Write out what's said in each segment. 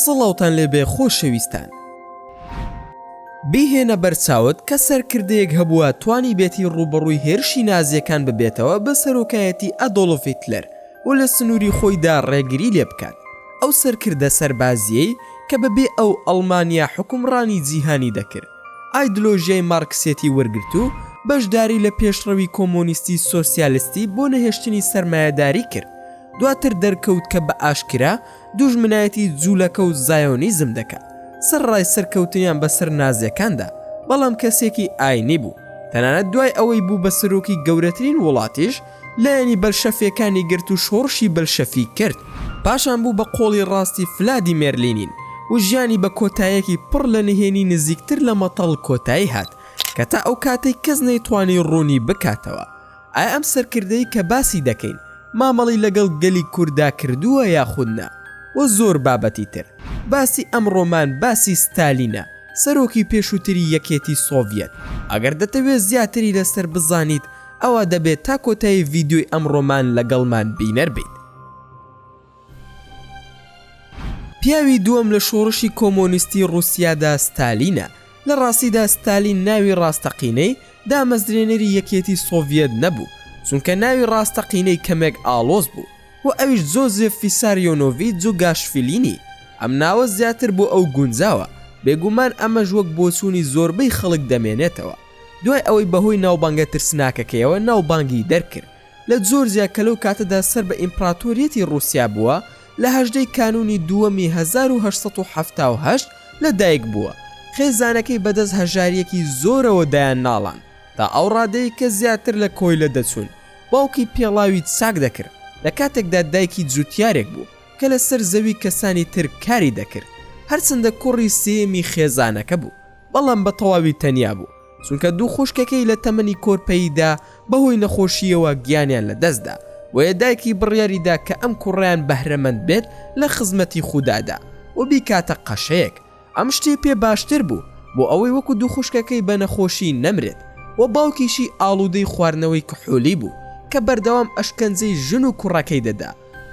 سڵاوتان لێبێ خۆشەویستان بیهێنە بەرچاوت کە سەرکردەیەک هەبووە توانی بێتی ڕوبەڕووی هێرشی نازیەکان ببێتەوە بە سەرۆکایەتی ئەدۆڵفیتلەر و لە سنووری خۆیدا ڕێگری لێ بکات، ئەو سەرکردە سەربازییەی کە بە بێ ئەو ئەڵمانیا حوکمڕانی جیهانی دەکرد، ئایدلۆژیای مارکسێتی وەرگرت و بەشداری لە پێشڕەوی کۆمۆنیستی سۆسیالستی بۆ نەهێشتنی سەرمایەداری کرد، دواتر دەرکەوت کە بە ئاشکرا دوژمنایەتی جوولەکە و زایۆنیزم دەکات، سەرڕای سەرکەوتنیان بە سەر نازیەکاندا، بەڵام کەسێکی ئاینی بوو، تەنانەت دوای ئەوەی بوو بە سەرۆکی گەورەترین وڵاتیش، لایەنی بەلشەفیەکانی گرت و شۆڕشی بەلشەفی کرد، پاشان بوو بە قۆڵی ڕاستی فلادیمێر لینین و ژیانی بە کۆتایەکی پڕ لە نهێنی نزیکتر لە مەتەڵ کۆتایی هات کە تا ئەو کاتەی کەس نەیتوانی ڕوونی بکاتەوە ئایا ئەم سەرکردەی کە باسی دەکەین مامەڵی لەگەڵ گەلی کورددا کردووە یاخود نا و زۆر بابەتی تر. باسی ئەمڕۆمان باسی ستالینە سەرۆکی پێشووتری یەکێتی سۆڤیەت. ئەگەر دەتەوێت زیاتری لەسەر بزانیت، ئەوا دەبێت تا کۆتایی ڤیدیۆی ئەمڕۆمان لەگەڵمان بینەر بیت. پیاوی دووەم لە شۆڕشی کۆمۆنیستی ڕوسیادا ستالینە، لە ڕاستیدا ستالین ناوی ڕاستەقینەی دامەزرێنەری یەکێتی سۆڤیەت نەبوو، چونکە ناوی ڕاستەقینەی کەمێک ئاڵۆز بوو و ئەویش جۆزێف فیساریۆنۆڤی جوگاشفیلینی، ئەم ناوە زیاتر بۆ ئەو گونجاوە، بێگومان ئەمەش وەک بۆچوونی زۆربەی خەڵک دەمێنێتەوە. دوای ئەوەی بەهۆی ناوبانگە ترسناکەکەیەوە ناوبانگی دەرکرد لە جۆرجیا کە لەو کاتەدا سەر بە ئیمپراتۆریەتی ڕووسیا بووە، لە هەژدە ی کانوونی دووەمی هەزار و هەشت سەد و حەفتا و هەشت لە دایک بووە، خێزانەکەی بەدەست هەژارییەکی زۆرەوە دایان ناڵاند تا ئەو ڕادەیەی کە زیاتر لە کۆیلە دەچوون، باوکی پێڵاوی چاک دەکرد لە کاتێکدا دایکی جووتیارێک بوو کە لەسەر زەوی کەسانی تر کاری دەکرد، هەرچەندە کوڕی سێیەمی خێزانەکە بوو. بەڵام بە تەواوی تەنیا بوو، چونکە دوو خوشکەکەی لە تەمەنی کۆرپەییدا بەهۆی نەخۆشییەوە گیانیان لەدەستدا، بۆیە دایکی بڕیاریدا کە ئەم کوڕەیان بەهرەمەند بێت لە خزمەتی خودادا و بیکاتە قەشەیەک، ئەم شتەی پێ باشتر بوو بۆ ئەوەی وەکو دوو خوشکەکەی بە نەخۆشی نەمرێت و باوکیشی ئاڵودەی خواردنەوەی کحولی بوو کە بەردەوام ئەشکەنجەی ژن و کوڕەکەی دەدا.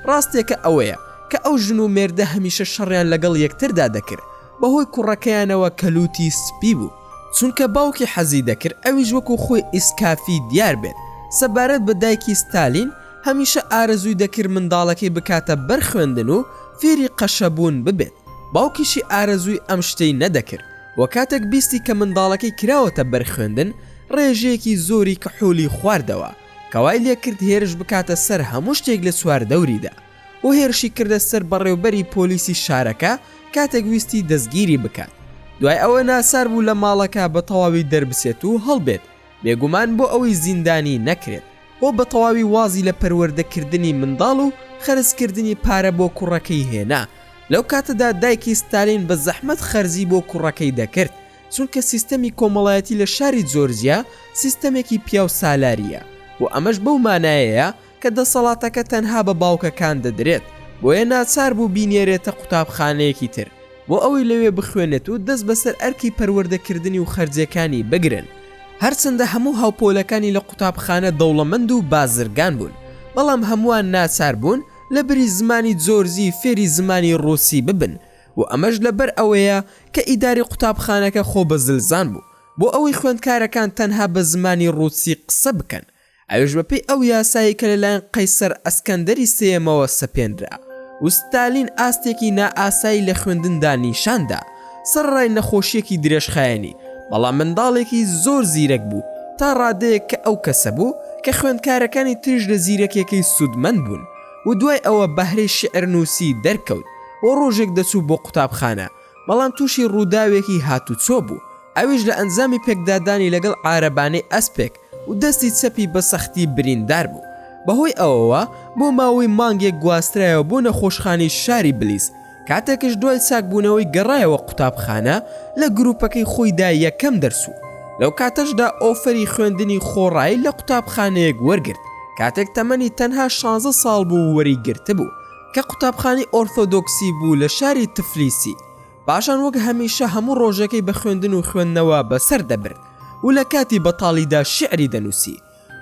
ڕاستێکە ئەوەیە کە ئەو ژن و مێردە هەمیشە شەڕیان لەگەڵ یەکتردا دەکرد بەهۆی کوڕەکەیانەوە کە لووتی سپی بوو چونکە باوکی حەزی دەکرد ئەویش وەکو خۆی ئیسکافی دیار بێت سەبارەت بە دایکی ستالین هەمیشە ئارەزووی دەکرد منداڵەکەی بکاتە بەر خوێندن و فێری قەشەبوون ببێت باوکیشی ئارەزووی ئەم شتەی نەدەکرد وە کاتێک بیستی کە منداڵەکەی کراوەتە بەر خوێندن ڕێژەیەکی زۆری کحولی خواردەوە کەوای لێکرد هێرش بکاتە سەر هەموو شتێک لە چواردەوریدا و هێرشی کردە سەر بەڕێوبەری پۆلیسی شارەکە کاتێک ویستی دەستگیری بکات دوای ئەوە ناچار بوو لە ماڵەکە بە تەواوی دەربچێت و هەڵبێت بێگومان بۆ ئەوەی زیندانی نەکرێت و بە تەواوی وازی لە پەروەردەکردنی منداڵ و خەرجکردنی پارە بۆ کوڕەکەی هێنا لەو کاتەدا دایکی ستالین بە زەحمەت خەرجی بۆ کوڕەکەی دەکرد چونکە سیستەمی کۆمەڵایەتی لە شاری جۆرجیا سیستەمێکی پیاو سالارییە و ئەمەش بەو مانایەیە کە دەسەڵاتەکە تەنها بە باوکەکان دەدرێت، بۆیە ناچار بوو بینێرێتە قوتابخانەیەکی تر بۆ ئەوەی لەوێ بخوێنێت و دەست بەسەر ئەرکی پەروەردەکردنی و خەرجیەکانی بگرن، هەرچەندە هەموو هاوپۆلەکانی لە قوتابخانە دەوڵەمەند و بازرگان بوون، بەڵام هەمووان ناچار بوون لەبری زمانی جۆرجی فێری زمانی ڕووسی ببن، و ئەمەش لەبەر ئەوەیە کە ئیدارەی قوتابخانەکە خۆ بە زلزان بوو بۆ ئەوەی خوێندکارەکان تەنها بە زمانی ڕووسی قسە بکەن، ئەویش بەپێی ئەو یاسایەی کە لەلایەن قەیسەر ئەسکەندەری سێیەمەوە سەپێنرا و ستالین ئاستێکی نائاسایی لە خوێندندا نیشان دا سەرەڕای نەخۆشییەکی درێژخایەنی، بەڵام منداڵێکی زۆر زیرەک بوو تا ڕادەیەک کە ئەو کەسە بوو کە خوێندکارەکانی تریش لە زیرەکییەکەی سوودمەند بوون. و دوای ئەوە بەهرەی شیعر نووسی دەرکەوت و ڕۆژێک دەچوو بۆ قوتابخانە، بەڵام تووشی ڕووداوێکی هاتووچۆ بوو، ئەویش لە ئەنجامی پێکدادانی لەگەڵ عارەبانەی ئەسپێک و دەستی چەپی بە سەختی بریندار بوو، بەهۆی ئەوەوە بۆ ماوەی مانگێک گواسترایەوە بۆ نەخۆشخانەی شاری بلیس، کاتێکش دوای چاکبوونەوەی گەڕایەوە قوتابخانە، لە گروپەکەی خۆی دا یەکەم دەرس و لەو کاتەشدا ئۆفەری خوێندنی خۆڕایی لە قوتابخانەیەک وەرگرت، کاتێک تەمەنی تەنها شانزە ساڵ بوو وەری گرتبوو، کە قوتابخانەی ئۆرتۆدۆکسی بوو لە شاری تفلیسی، پاشان وەک هەمیشە هەموو ڕۆژەکەی بە خوێندن و خوێندنەوە بەسەر دەبرد و لە کاتی بەتاڵیدا شیعری دەنووسی.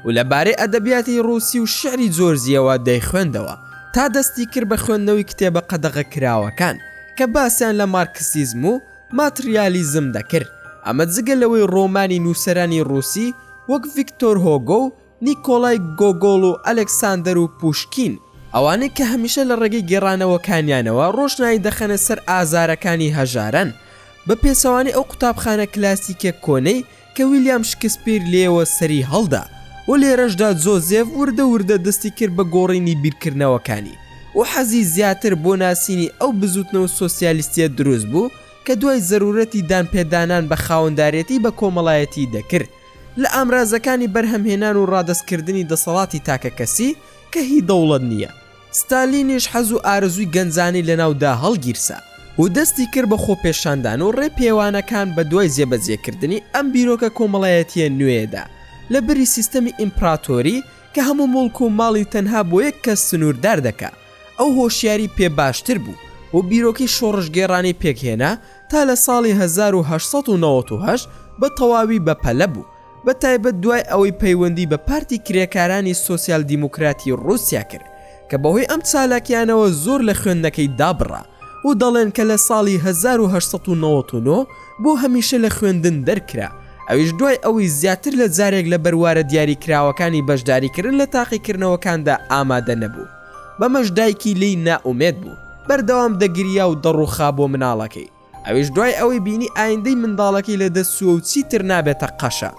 و لە بارەی ئەدەبیاتی ڕووسی و شیعری جۆرجییەوە دەیخوێندەوە، تا دەستی کرد بە خوێندنەوەی کتێبە قەدەغەکراوەکان کە باسیان لە مارکسیزم و ماتریالیزم دەکرد، ئەمە جگە لەوەی ڕۆمانی نووسەرانی ڕووسی وەک ڤیکتۆر هۆگۆ و نیکۆلای گۆگۆڵ و ئەلێکساندەر و پووشکین، ئەوانەی کە هەمیشە لە ڕێگەی گێڕانەوەکانیانەوە ڕۆشنایی دەخەنە سەر ئازارەکانی هەژاران، بە پێچەوانەی ئەو قوتابخانە کلاسیکە کۆنەی کە ویلیام شکسپیر لێوە سەری هەڵدا و لێرەشدا جۆزێف وردە وردە دەستی کرد بە گۆڕینی بیرکردنەوەکانی و حەزی زیاتر بۆ ناسینی ئەو بزووتنەوە سۆسیالیستییە دروست بوو کە دوای زەروورەتی دانپێدانان بە خاوەندارێتی بە کۆمەڵایەتی دەکرد لە ئامرازەکانی بەرهەمهێنان و ڕادەستکردنی دەسەڵاتی تاکەکەسی کە هی دەوڵەت نییە. ستالینیش حەز و ئارەزووی گەنجانی لەناو دا هەڵگیرسا و دەستی کرد بە خۆپێشاندان و ڕێ پێوانەکان بە دوای جێبەجێ کردنی ئەم بیرۆکە کۆمەڵایەتییە نوێیە دا لە بری سیستەمی ئیمپڕاتۆری کە هەموو موڵک و ماڵی تەنها بۆ یەک کەس سنووردار دەکا ئەو هۆشیاری پێ باشتر بوو و بیرۆکەی شۆڕشگێڕانەی پێک هێنا تا لە ساڵی هەزار و هەشت سەد و نەوەد و هەشت بە تەواوی بە پەلە بوو بە تایبەت دوای ئەوەی پەیوەندی بە پارتی کرێکارانی سۆسیال دیموکراتی ڕووسیا کرد کە بەهۆی ئەم چالاکیانەوە زۆر لە خوێندنەکەی دابڕا و دەڵێن کە لە ساڵی هەزار و هەشت سەد و نەوەد و نۆ بۆ هەمیشە لە خوێندن دەرکرا ئەویش دوای ئەوەی زیاتر لە جارێک لە بەروارە دیاریکراوەکانی بەشداریکردن لە تاقیکردنەوەکاندا ئامادە نەبوو بەمەش دایکی لێی نائومێد بوو بەردەوام دەگریا و دەڕووخا بۆ مناڵەکەی ئەویش دوای ئەوەی بینی ئایندەی منداڵەکەی لە دەست چووە و چیتر نابێتە قەشە.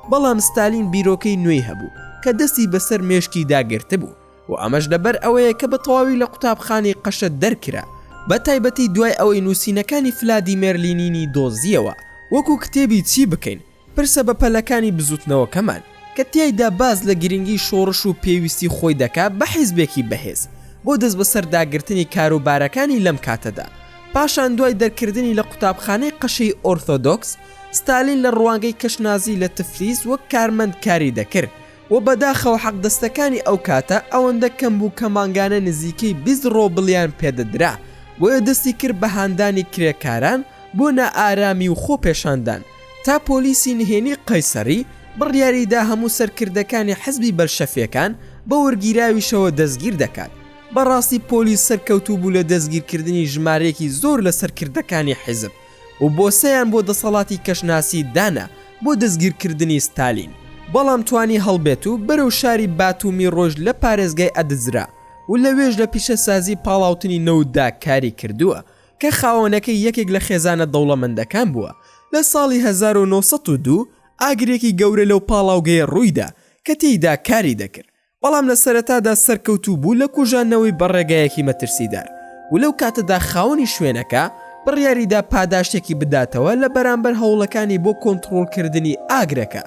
بەڵام ستالین بیرۆکەی نوێی هەبوو کە دەستی بەسەر مێشکیدا گرتبوو و ئەمەش لەبەر ئەوەیە کە بە تەواوی لە قوتابخانەی قەشە دەرکرا، بە تایبەتی دوای ئەوەی نووسینەکانی فلادیمێر لینینی دۆزییەوە، وەکوو کتێبی چی بکەین؟ پرسە بەپەلەکانی بزوتنەوەکەمان، کە تیایدا باس لە گرنگی شۆڕش و پێویستی خۆی دەکا بە حیزبێکی بەهێز بۆ دەستبەسەرداگرتنی کاروبارەکانی لەم کاتەدا، پاشان دوای دەرکردنی لە قوتابخانەی قەشەی ئۆرثۆدۆکس، ستالین لە ڕوانگەی کەشنازی لە تفلیس وەک کارمەند کاری دەکرد، وە بەداخەوە حەقدەستەکانی ئەو کاتە ئەوەندە کەم بوو کە مانگانە نزیکەی بیست ڕۆبڵیان پێدەدرا بۆیە دەستی کرد بە هاندانی کرێکاران بۆ نائارامی و خۆپێشاندان تا پۆلیسی نهێنی قەیسەڕی بڕیاری دا هەموو سەرکردەکانی حزبی بەلشەفیەکان بە وەرگیراویشەوە دەستگیر دەکات بەڕاستی پۆلیس سەرکەوتوو بوو لە دەستگیرکردنی ژمارەیەکی زۆر لە سەرکردەکانی حزب و بۆسەیان بۆ دەسەڵاتی کەشناسی دانا بۆ دەستگیرکردنی ستالین، بەڵام توانی هەڵبێت و بەرەو شاری باتومی ڕۆیشت لە پارێزگای ئەدزرا و لەوێش لە پیشەسازی پاڵاوتنی نەوتدا کاری کردووە کە خاوەنەکەی یەکێک لە خێزانە دەوڵەمەندەکان بووە لە ساڵی هەزار و نۆ سەد و دوو ئاگرێکی گەورە لەو پاڵاوگەیە ڕوویدا کە تێیدا کاری دەکرد بەڵام لە سەرەتادا سەرکەوتوو بوو لە کوژاندنەوەی بە ڕێگایەکی مەترسیدار و لەو کاتەدا خاوەنی شوێنەکە بڕیاریدا پاداشتێکی بداتەوە لە بەرامبەر هەوڵەکانی بۆ کۆنتڕۆڵکردنی ئاگرەکە،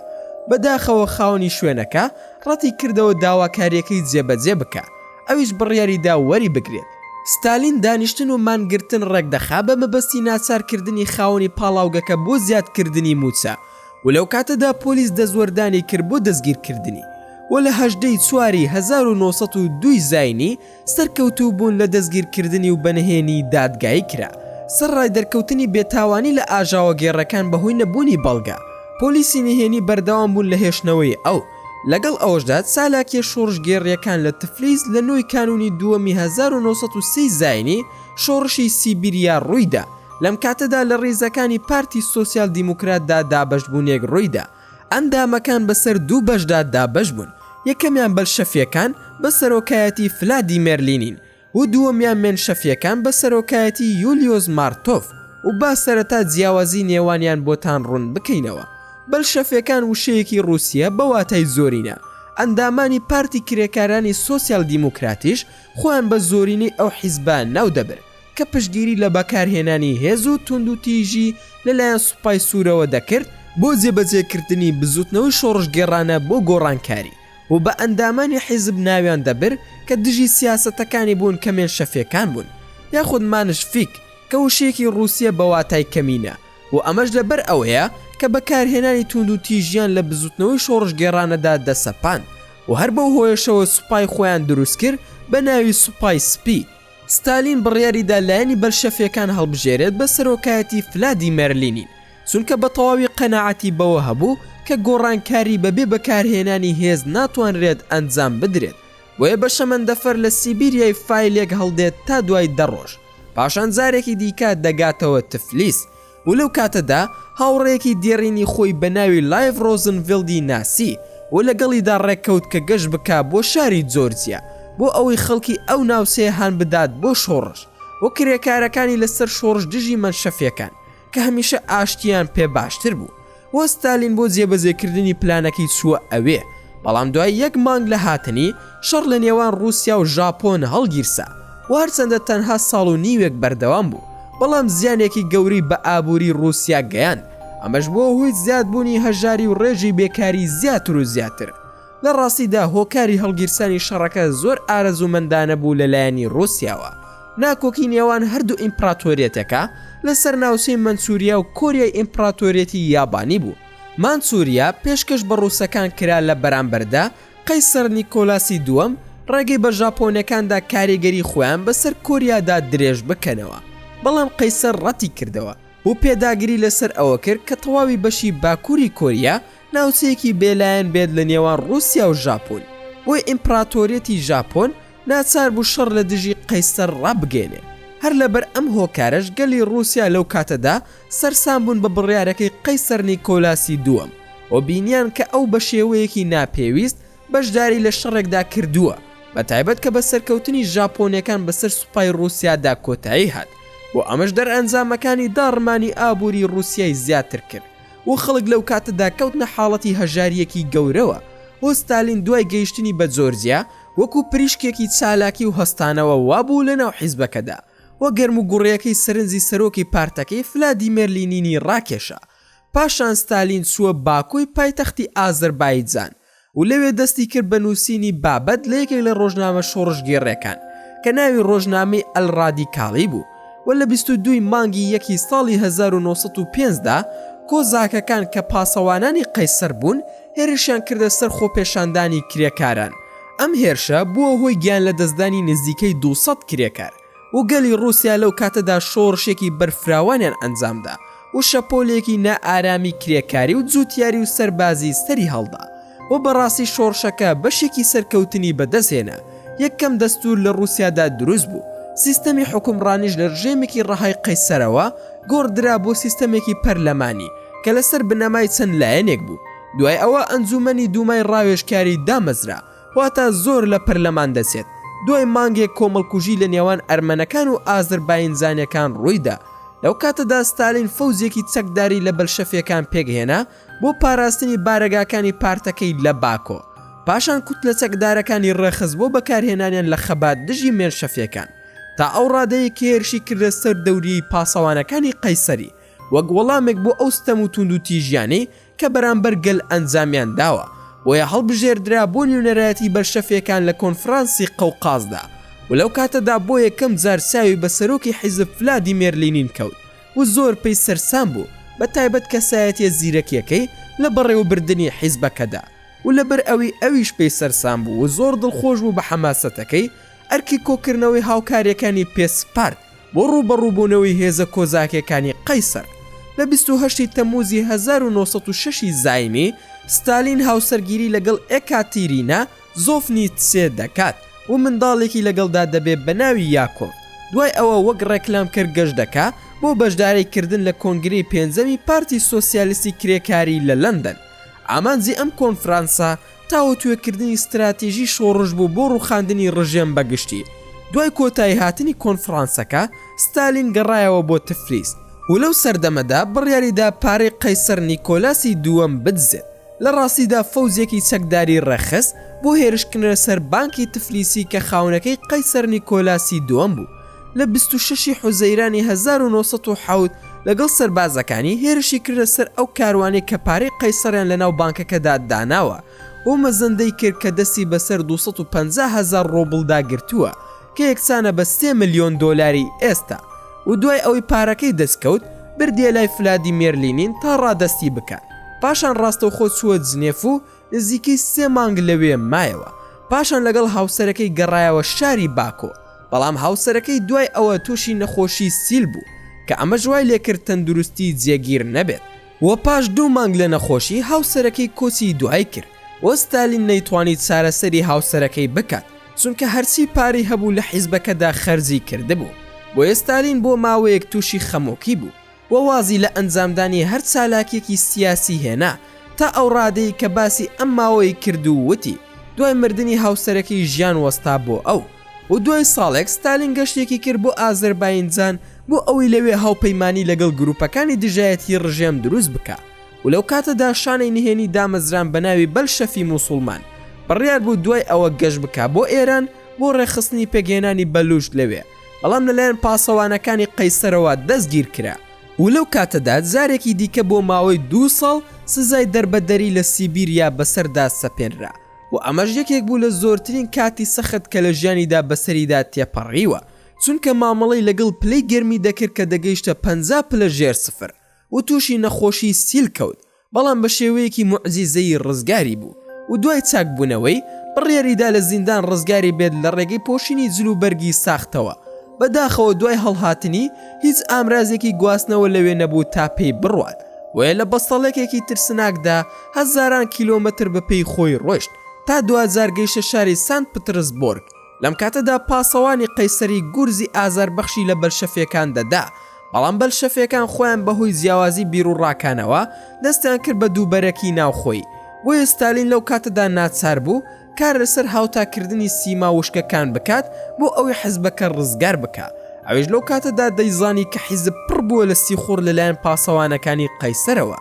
بەداخەوە خاوەنی شوێنەکە ڕەتیکردەوە داواکارییەکەی جێبەجێ بکا، ئەویش بڕیاریدا وەریبگرێت. ستالین دانیشتن و مانگرتن ڕێکدەخا بە مەبەستی ناچارکردنی خاوەنی پاڵاوگەکە بۆ زیادکردنی مووچە، و لەو کاتەدا پۆلیس دەستوەردانی کرد بۆ دەستگیرکردنی و لە هەژدە ی چواری هەزار و نۆ سەد و دوو ی زاینی سەرکەوتوو بوون لە دەستگیرکردنی و بەنهێنی دادگایی کرا سەرڕای دەرکەوتنی بێتاوانی لە ئاژاوەگێڕەکان بەهۆی نەبوونی بەڵگە پۆلیسی نهێنی بەردەوام بوون لە هێشتنەوەی ئەو لەگەڵ ئەوەشدا چالاکیە شۆڕشگێڕیەکان لە تفلیس لە نۆ ی کانوونی دووەمی هەزار و نۆ سەد و سێ ی زاینی شۆڕشی سیبیریا ڕوویدا، لەم کاتەدا لە ڕیزەکانی پارتی سۆسیال دیموکراتدا دابەشبوونێک ڕوویدا، ئەندامەکان بەسەر دوو بەشدا دابەشبوون، یەکەمیان بەلشەفییەکان بە سەرۆکایەتی فلادیمێر لینین و دووەمیان مێنشەفییەکان بە سەرۆکایەتی یولیۆس مارتۆف و با سەرەتا جیاوازی نێوانیان بۆتان ڕوون بکەینەوە بەلشەفییەکان وشەیەکی ڕووسییە بە واتای زۆرینە ئەندامانی پارتی کرێکارانی سۆسیال دیموکراتیش خۆیان بە زۆرینەی ئەو حیزبە ناو دەبرد کە پشتگیری لە بەکارهێنانی هێز و توندوتیژی لەلایەن سوپای سوورەوە دەکرد بۆ جێبەجێکردنی بزووتنەوەی شۆڕشگێڕانە بۆ گۆڕانکاری و بە ئەندامانی حیزب ناویان دەبرد کە دژی سیاسەتەکانی بوون کە مێنشەفیەکان بوون یاخود مانشفیک کە وشەیەکی ڕووسییە بە واتای کەمینە و ئەمەش لەبەر ئەوەیە کە بەکارهێنانی توندوتیژیان لە بزوتنەوەی شۆڕشگێڕانەدا دەسەپاند و هەر بەو هۆیەشەوە سوپای خۆیان دروستکرد بە ناوی سوپای سپی. ستالین بڕیاریدا لایەنی بەلشەفیەکان هەڵبژێرێت بە سەرۆکایەتی فلادیمێر لینین، چونکە بە تەواوی قەناعەتی بەوە هەبوو کە گۆڕانکاری بەبێ بەکارهێنانی هێز ناتوانرێت ئەنجام بدرێت، بۆیە بە شەمەندەفەر لە سیبیریای فایلێک هەڵدێت تا دوای دە ڕۆژ. پاشان جارێکی دیکە دەگاتەوە تفلیس و لەو کاتەدا هاوڕێیەکی دێڕینی خۆی بە ناوی لایڤ ڕۆزنڤیلدی ناسی و لەگەڵیدا ڕێککەوت کە گەشت بکا بۆ شاری جۆرجیا بۆ ئەوەی خەڵکی ئەو ناوچەیە هان بدات بۆ شۆڕش و کرێکارەکانی لەسەر شۆڕش دژی مەنشەفیەکان کە هەمیشە ئاشتیان پێ باشتر بوو وە ستالین بۆ جێبەجێکردنی پلانەکەی چووە ئەوێ بەڵام دوای یەک مانگ لە هاتنی شەڕ لە نێوان ڕووسیا و ژاپۆن هەڵگیرسا و هەرچەندە تەنها ساڵ و نیوێک بەردەوام بوو بەڵام زیانێکی گەوری بە ئابووری ڕووسیا گەیاند ئەمەش بۆ هۆی زیادبوونی هەژاری و ڕێژی بێکاری زیاتر و زیاتر لە ڕاستیدا هۆکاری هەڵگیرسانی شەڕەکە زۆر ئارەزوومەندانە بوو لە لایەنی ڕووسیاوە، ناکۆکی نێوان هەردوو ئیمپڕاتۆریەتەکە لەسەر ناوچەی مەنچوریا و کۆریای ئیمپڕاتۆریەتی یابانی بوو، مانچوریا پێشکەش بە ڕووسەکان کرا لە بەرامبەردا قەیسەر نیکۆلاسی دووەم ڕێگەی بە ژاپۆنەکاندا کاریگەری خۆیان بەسەر کۆریادا درێژ بکەنەوە بەڵام قەیسەر ڕەتی کردەوە و پێداگری لەسەر ئەوە کرد کە تەواوی بەشی باکووری کۆریا ناوچەیەکی بێ لایەن بێت لە نێوان ڕووسیا و ژاپۆن، بۆیە ئیمپڕاتۆریەتی ژاپۆن ناچار بوو شەڕ لە دژی قەیسەر ڕابگەیەنێ، هەر لەبەر ئەم هۆکارەش گەلی ڕووسیا لەو کاتەدا سەرسام بوون بە بڕیارەکەی قەیسەر نیکۆلاسی دووەم و بینیان کە ئەو بە شێوەیەکی ناپێویست بەشداری لە شەڕێکدا کردووە بە تایبەت کە بە سەرکەوتنی ژاپۆنەکان بەسەر سوپای ڕووسیادا کۆتایی هات و ئەمەش دەرئەنجامەکانی داڕمانی ئابووری ڕووسیای زیاتر کرد. و خەڵک لەو کاتەدا کەوتنە حاڵەتی هەژارییەکی گەورەوە و ستالین دوای گەیشتنی بە جۆرجیا وەکو پریشکێکی چالاکی و هەستانەوە وابوو لەناو حیزبەکەدا و گەرموگوڕیەکەی سەرنجی سەرۆکی پارتەکەی فلادیمێر لینینی ڕاکێشا پاشان ستالین چووە باکوی پایتەختی ئازەربایجان و لەوێ دەستی کرد بە نووسینی بابەت لە یەکێک لە ڕۆژنامە شۆڕشگێڕییەکان کە ناوی ڕۆژنامەی ئەلڕادیکالی بوو و لە بیست و دوو ی مانگی یەکی ساڵی هەزار و نۆ سەد و پێنج دا کۆزاکەکان کە پاسەوانانی قەیسەر بوون هێرشیان کردە سەر خۆپێشاندانی کرێکاران ئەم هێرشە بووە هۆی گیانلەدەستدانی نزیکەی دوو سەد کرێکار. و گەلی ڕووسیا لەو کاتەدا شۆڕشێکی بەرفراوانیان ئەنجامدا و شەپۆلێکی نائارامی کرێکاری و جووتیاری و سەربازی سەری هەڵدا و بەڕاستی شۆڕشەکە بەشێکی سەرکەوتنی بەدەست هێنا، یەکەم دەستوور لە ڕووسیادا دروست بوو، سیستەمی حوکمڕانیش لە ڕژێمێکی ڕەهای قەیسەرەوە گۆڕدرا بۆ سیستەمێکی پەرلەمانی کە لەسەر بنەمای چەند لایەنێک بوو، دوای ئەوە ئەنجوومەنی دوومای ڕاوێژکاری دامەزرا، واتا زۆر لە پەرلەمان دەچێت. دوای مانگێک کۆمەڵکوژی لە نێوان ئەرمەنەکان و ئازەرباینجانیەکان ڕوویدا. لەو کاتەدا ستالین فەوجێکی چەکداری لە بەلشەفیەکان پێکهێنا بۆ پاراستنی بارەگاکانی پارتەکەی لە باکۆ. پاشان کوتلە چەکدارەکانی ڕێکخست بۆ بەکارهێنانیان لە خەبات دژی مێنشەفیەکان. تا ئەو ڕادەیەی کە هێرشی کردە سەر دەوریەی پاسەوانەکانی قەیسەری وەک وەڵامێک بۆ ئەو ستەم و توندوتیژیانەی کە بەرامبەر گەل ئەنجامیان داوە، بۆیە هەڵبژێردرا بۆ نوێنەرایەتی بەلشەفیەکان لە کۆنفرانسی قەوقازدا و لەو کاتەدا بۆ یەکەم جار چاوی بە سەرۆکی حیزب فلادیمێر لینین کەوت و زۆر پێی سەرسام بوو بە تایبەت کەسایەتیە زیرەکیەکەی لە بەڕێوەبردنی حیزبەکەدا و لەبەر ئەوی ئەویش پێی سەرسام بوو و زۆر دڵخۆش بوو بە حەماسەتەکەی ئەرکی کۆکردنەوەی هاوکاریەکانی پێ سپارد بۆ ڕووبەڕووبوونەوەی هێزە کۆزاکێکانی قەیسەر، لە بیست و هەشت ی تەمووزی هەزار و نۆ سەد و شەش ی زاینی، ستالین هاوسەرگیری لەگەڵ ئێکاتیرینا زۆفنیتسێ دەکات و منداڵێکی لەگەڵدا دەبێت بە ناوی یاکۆڤ، دوای ئەوە وەک ڕێکلامکەر گەشت دەکا بۆ بەشداری کردن لە کۆنگرەی پێنجەمی پارتی سۆسیالیستی کرێکاری لە لەندەن، ئامانجی ئەم کۆنفرانسە تاوتوێکردنی ستراتیژی شۆڕش بوو بۆ ڕووخاندنی ڕژێم بە گشتی. دوای کۆتاییهاتنی کۆنفڕانسەکە، ستالین گەڕایەوە بۆ تفلیس و لەو سەردەمەدا بڕیاری دا پارەی قەیسەر نیکۆلاسی دووەم بدزێت، لە ڕاستیدا فەوجێکی چەکداری ڕێکخست بۆ هێرشکردنە سەر بانکی تفلیسی کە خاوەنەکەی قەیسەر نیکۆلاسی دووەم بوو. لە بیست و شەش ی حوزەیرانی هەزار و نۆ سەد و حەوت لەگەڵ سەربازەکانی هێرشی کردە سەر ئەو کاروانەی کە پارەی قەیسەڕیان لەناو بانکەکەدا داناوە و مەزەندەی کرد کە دەستی بەسەر دوو سەد و پەنجا هەزار ڕۆبڵدا گرتووە کە یەکسانە بە سێ ملیۆن دۆلاری ئێستا و دوای ئەوەی پارەکەی دەستکەوت بردیە لای فلادیمێر لینین تا ڕادەستی بکات پاشان ڕاستەوخۆ چووە جنێف و نزیکەی سێ مانگ لەوێ مایەوە، پاشان لەگەڵ هاوسەرەکەی گەڕایەوە شاری باکۆ، بەڵام هاوسەرەکەی دوای ئەوە تووشی نەخۆشی سیل بوو، کە ئەمەش وای لێکرد تەندروستی جێگیر نەبێت و پاش دوو مانگ لە نەخۆشی، هاوسەرەکەی کۆچی دوایی کرد و ستالین نەیتوانی چارەسەری هاوسەرەکەی بکات، چونکە هەرچی پارەی هەبوو لە حیزبەکەدا خەرجی کردبوو، بۆیە ستالین بۆ ماوەیەک تووشی خەمۆکی بوو. و وازی لە ئەنجامدانی هەر چالاکیەکی سیاسی هێنا، تا ئەو ڕادەی کە باسی ئەم ماوەی کرد و وتی، دوای مردنی هاوسەرەکەی ژیان وەستا بۆ ئەو، و دوای ساڵێک ستالین گەشتێکی کرد بۆ ئازەرباینجان بۆ ئەوەی لەوێ هاوپەیمانی لەگەڵ گروپەکانی دژایەتی ڕژێم دروست بکا و لەو کاتەدا شانەی نهێنی دامەزراند بە ناوی بەلشەفی موسوڵمان بڕیار بوو دوای ئەوە گەشت بکا بۆ ئێران بۆ ڕێکخستنی پێکهێنانی بەلووچ لەوێ. بەڵام لەلایەن پاسەوانەکانی قەیسەرەوە دەستگیرکرا و لەو کاتەدا جارێکی دیکە بۆ ماوەی دوو ساڵ سزای دەربەدەری لە سیبیریا بەسەردا سەپێنرا و ئەمەش یەکێک بوو لە زۆرترین کاتی سەخت کە لە ژیانیدا بەسەریدا تێپەڕیوە چونکە مامەڵەی لەگەڵ پلەی گەرمی دەکرد کە دەگەیشتە پەنجا پلە ژێر سفر و تووشی نەخۆشی سیل کەوت بەڵام بە شێوەیەکی موعجیزەیی ڕزگاری بوو و دوای چاکبوونەوەی، بڕیاری دا لە زیندان ڕزگاری بێت لە ڕێگەی پۆشینی جل و بەرگی ساختەوە. بە داخەوە دوای هەڵهاتنی، هیچ ئامرازێکی گواستنەوە لەوێ نەبوو تا پێی بڕوات، بۆیە لە بەستەڵەکێکی ترسناکدا هەزاران کیلۆمەتر بە پێی خۆی ڕۆیشت تا دواجار گەیشتە شاری سانت پترسبۆرگ. لەم کاتەدا پاسەوانی قەیسەری گورزی ئازاربەخشی لە بەلشەفیەکان دەدا، بەڵام بەلشەفیەکان خۆیان بەهۆی جیاوازی بیروڕاکانەوە دەستیان کرد بە دووبەرەکی ناوخۆی، بۆیە ستالین لەو کاتەدا ناچار بوو کار لەسەر هاوتاکردنی سیما وشکەکان بکات بۆ ئەوەی حزبەکە ڕزگار بکا، ئەویش لەو کاتەدا دەیزانی کە حیزب پڕ بووە لە سیخوڕ لەلایەن پاسەوانەکانی قەیسەرەوە،